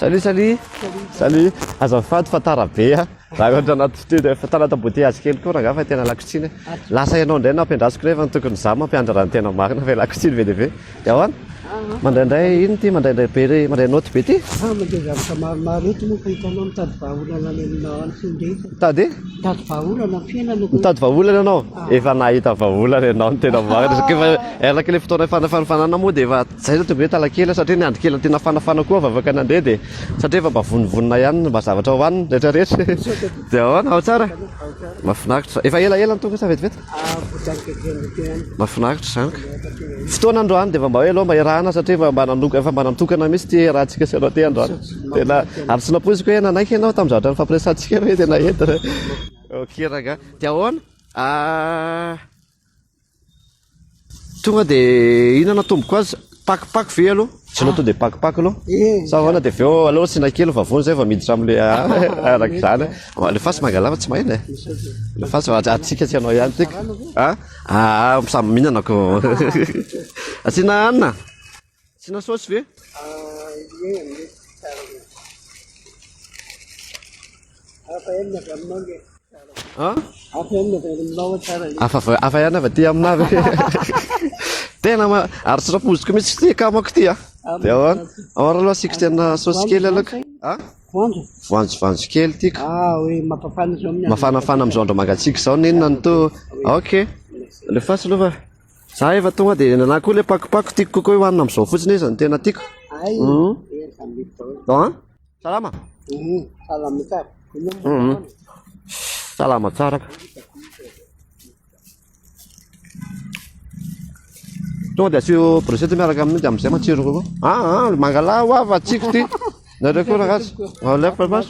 Salut salut. Salut. Azafady fa tara be a. Raha ohatra anaty studio efa tara anaty embouteillage kely koa rangaha fa tena lakotsiny. Lasa ianao indray nampiandrasiko nefa ny tokony izaho mampiandrara ny tena marina ve lakotsiny be dia be. Ewa, mandraindray ino ity mandraindray be re mandray note be ity? Ah, mandeha zavatra maromaro eto moa ka hitanao mitady vahaolana any aminao any findra eto. Mitady? Mitady vahaolana ny fiainana. Mitady vahaolana ianao? Ah. Efa nahita vahaolana ianao ny tena marina. Satria efa ah. erlaka ilay fotoana fanafanafanana moa dia efa zay no tonga hoe talakela satria ny andry kely tiana fanafana koa vavaka nandeha dia satria efa mba vonivonina ihany mba zavatra hohanina rehetra rehetra. Dia ahoana ao tsara? Mafinaritra. Efa ela ela ny tonga sa vetivety? Mahafinaritra izany ka. Fotoana androany dia efa mba hoe aleo mba iarahana satria efa mba nanoka efa mba natokana mihitsy ity hiarahantsika sy ianao ity androany. Tena ary tsy nampoiziko hoe nanaiky ianao tamin'ny zavatra nifampiresahantsika hoe tena entina. Ok rangah. Dia ahoana? Tonga de ina no atomboko azy? Pakopako ve aloha? Tsy aloha to de pakopako aloha. Sa ahoana de avy eo aleo asiana kely fa vao zay vao miditra amle araka izany. Alefaso mangalava tsy mahena e. Alefaso atsika tsy anao ihany tika. Ah, ah samy mihinana ko. Asiana hanina. Asiana saosy ve? Ie, mety tsara be. Hafa ihany ny avy aminao le. An? Hafa ihany ny avy aminao tsara le. Hafa va- hafa ihany avy aty aminà ve? Tena ma- ary tsy rafoziko mihitsy ty ka manko ty a. Dia ahoana? Ahoana aloha asiako tena saosy kely aloha ka. An? Voanjo? Voanjo voanjo kely tiako. Ah, hoe mapafana izao amin'ny andro. Mafanafana amin'izao andro mangatsiaka izao n'inona no to. Ok. Alefaso aloha fa. Za efa tonga dia nanahy koa le pakopako tiako kokoa io hanina amizao fotsiny izy no tena tiako. Ay, mm. Ah, salama. Mm, salama tsara. Mm. Salama tsara. Tonga dia asio brochette miaraka amin'io dia amizay matsiro kokoa. Ah, ah, mangala wa va tsiko ty. Nareo koa ragasy. Alef pas.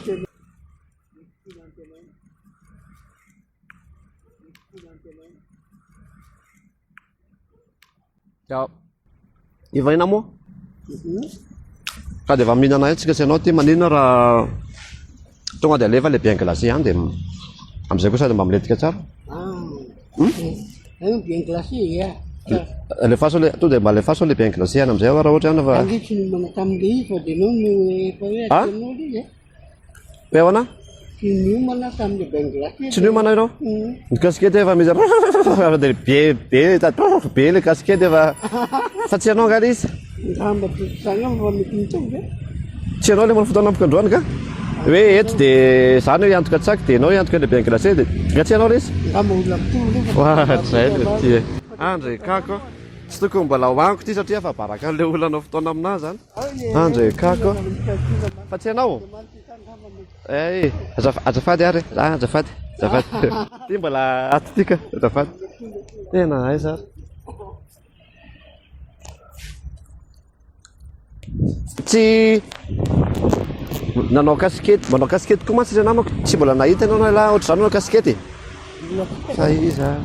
Ya. Efa ina moa? Mhm. Ka dia efa mihinana etsy ka sy ianao ty maninona raha tonga dia alefa le bien glacé ihany dia amin'izay koa sady mba milentika tsara. Ah. Hmm? Eh, bien glacé ya. Alefaso le to dia mba alefaso le bien glacé ihany amin'izay aho raha ohatra ihany fa. Angitsy ny manatamy le izy fa dia nao no efa hoe atanao le ya. Beona? Tsy niomana tamin'ny Bangladesh. Tsy niomana ianao? Mm. Ny kasikety efa misy dia be be be le kasikety efa fa tsy ianao angaha izy? Ngamba tsy izany aho fa mety mitovy ve? Tsy ianao le manao fotoana ampokandroany ka? Hoe eto dia izany hoe antoka tsaky dia ianao antoka le Bangladesh dia nga tsy ianao lesy? Ngamba olona mitovy le. Wa zay le ty e. Andry kako. Tsy tokony mbola hohaniko ty satria efa baraka an'ilay olona anao fotoana aminà zany. Andra e kako Fa tsy ianao? Eh, azaf- azafady ary Ah, azafady Azafady Ty mbola ato tika Azafady Tena aiza ary Tsy Nanao kasikety Manao kasikety koa mantsy ilay namako Tsy mbola nahita ianao ialahy Ohatr'izany manao kasikety e Fa iza ary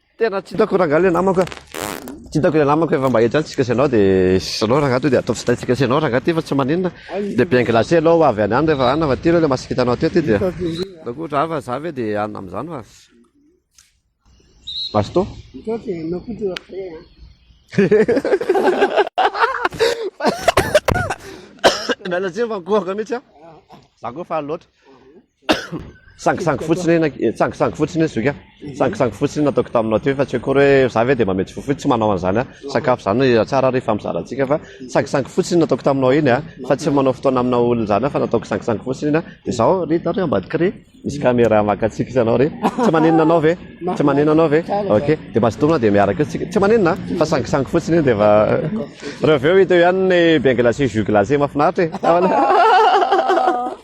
Tena tsy hitako rangahy le namako a. Tsy hitako le namako efa mba etsy any tsika sy ianao de sy ianao rangahy toa de ataovy stay tsika sy ianao rangahy ty fa tsy maninona. De bien glacé ianao ho avy any any rehefa any fa ty aloha le maha sikita anao ty aty dia. Ataoko ohatra raha fa za ve de hanina amin'izany fa. Basto. Misaotra e, anao koa toa frais an. Miala tsiny fa nikohaka mihitsy a. Za koa faly loatra. Sangisangy fotsiny eny, eh, sangisangy fotsiny izy zoka. Sangisangy fotsiny nataoko taminao teo fa tsy akory hoe za ve dia mametsy fofo io tsy manao an'izany a. Sakafo izany eh, tsara ary hifampizara antsika fa sangisangy fotsiny nataoko taminao iny a. Fa tsy manao fotoana amina olona izany fa nataoko sangisangy fotsiny iny a. Dia izao ry taro ambadika ry misy caméra maka antsika isanao ry. Tsy maninona anao ve? Tsy maninona anao ve? Ok, dia mazotoana dia miaraka eo tsika. Tsy maninona a, fa sangisangy fotsiny iny dia efa Reo avy eo hita eo ihany ny bain glacé, jus glacé mahafinaritra e.